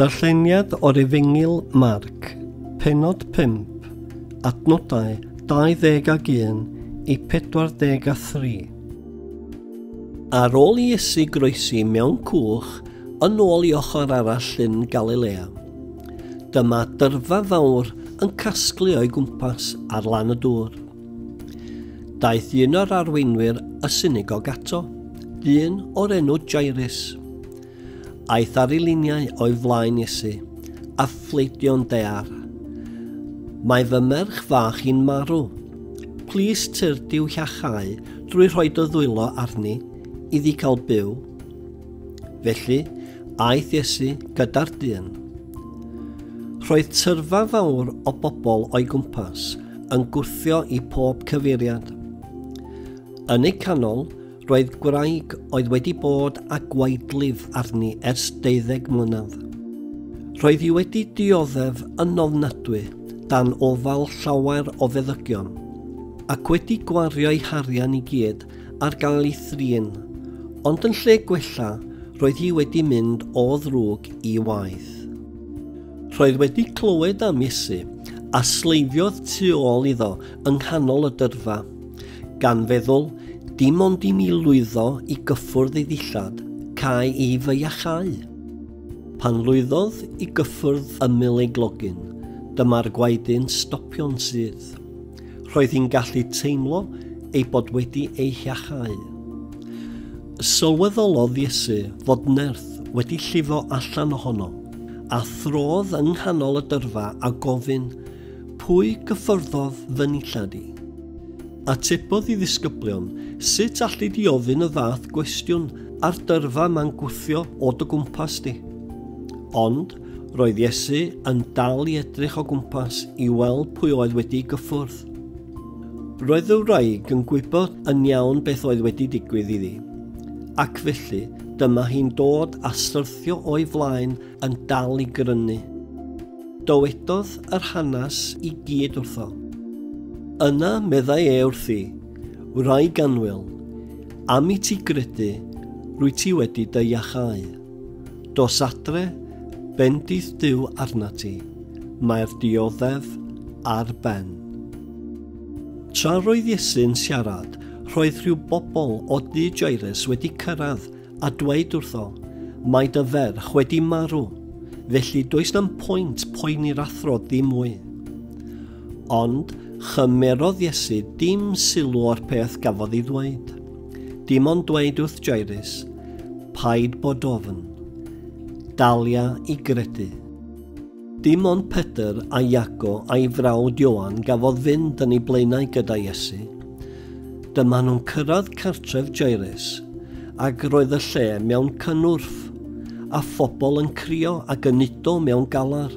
Darlleniad o'r efengyl Marc, penod 5, adnodau 20 ag 1 i 43. Ar ôl i Iesu groesi mewn cwch yn ôl i ochr arall llyn Galilea, dyma dyrfa fawr yn casglu o'i gwmpas ar lan y dŵr. Daeth un o'r arweinwyr y synigog ato, dyn o'r enw Jairus. Aeth ar ei liniau o'i flaen Iesu, a phleidio'n dear. Mae fy merch fach i'n marw. Plis tyr diw hiachau drwy rhoi dy ddwylo arni, iddi cael byw. Felly, aeth Iesu gyda'r dyn. Roedd tyrfa fawr o bobl o'i gwmpas yn gwthio i pob cyfeiriad. Yn eu canol, Roedd gwraig oedd wedi bod â gwaedlif arni ers deuddeg mlynedd. Roedd hi wedi dioddef yn ofnadwy dan ofal llawer o feddygion, ac wedi gwario'i harian i gyd ar gael ei thrin, ond yn lle gwella, roedd hi wedi mynd o ddrwg i waeth. Roedd wedi clywed am Iesu, a sleifiodd tu ôl iddo yng nghanol y dyrfa. Gan feddwl, dim ond i mi lwyddo i gyffwrdd ei ddillad, cae i fy iachau. Pan lwyddodd i gyffwrdd ymyl ei glogyn, dyma'r gwaedyn stopion sydd. Roedd hi'n gallu teimlo ei bod wedi ei hiachau. Sylweddolodd Iesu fod nerth wedi llifo allan ohono, a throdd yng nghanol y dyrfa a gofyn, Pwy gyffyrddodd fy nillad i? Atebodd i ddisgyblion, sut alli di ofyn y fath gwestiwn a'r dyrfa ma'n gwthio o dy gwmpas di? Ond, roedd Iesu yn dal i edrych o gwmpas i weld pwy oedd wedi gyffwrdd. Roedd y wraig yn gwybod yn iawn beth oedd wedi digwydd iddi, ac felly dyma hi'n dod a syrthio o'i flaen yn dal i grynu. Dowedodd yr hanes i gyd wrtho. Yna meddai e wrthi, Wraig anwyl, am i ti gredu, rwy ti wedi dy iachau. Dos adre, bendith Dyw arna ti, mae'r dioddef ar ben. Tra roedd Iesu'n siarad, roedd rhyw bobl o dŷ Jairus wedi cyrraedd a dweud wrtho, Mae dy ferch wedi marw, felly does na'm pwynt poeni'r athro ddim mwy. Ond chymerodd Iesu dim sylw o'r peth gafodd ei ddweud. Dim ond dweud wrth Jairus, paid bod ofn, dalia i gredu. Dim ond Pedr a Iago a'i frawd Ioan gafodd fynd yn ei blaenau gyda Iesu, Dyma nhw'n cyrraedd cartref Jairus, ac roedd y lle mewn cynnwrf, a phobl yn crio ac yn udo mewn galar.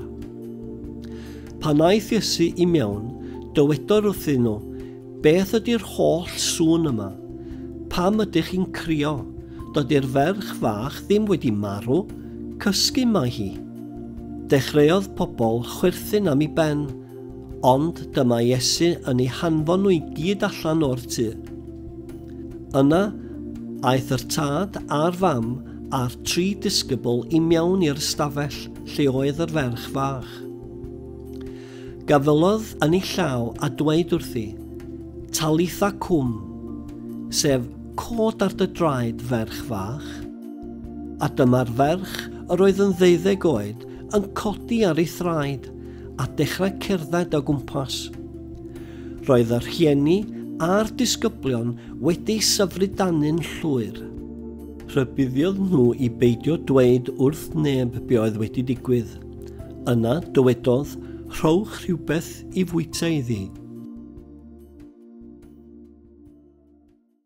Pan aeth Iesu i mewn, dywedodd wrthyn nhw, Beth ydy'r holl sŵn yma? Pam ydych chi'n crio? Dydy'r ferch fach ddim wedi marw, cysgu mae hi. Dechreuodd pobl chwerthin am i ben, Ond dyma Iesu yn ei hanfon nhw i gyd allan o'r tŷ. Yna, aeth yr tad a'r fam a'r tri disgybl i mewn i'r ystafell lle oedd yr ferch fach. Gafelodd yn ei llaw a dweud wrthi, Talitha cwm, sef cod ar dy draed, ferch fach. A dyma'r ferch, yr oedd yn ddeuddeg oed, yn codi ar ei thraed. a dechrau cerdded o gwmpas. Roedd y rhieni a'r disgyblion wedi syfrydanu'n llwyr. Rhybuddiodd nhw i beidio dweud wrth neb be oedd wedi digwydd. Yna dywedodd, rhowch rhywbeth i fwyta iddi.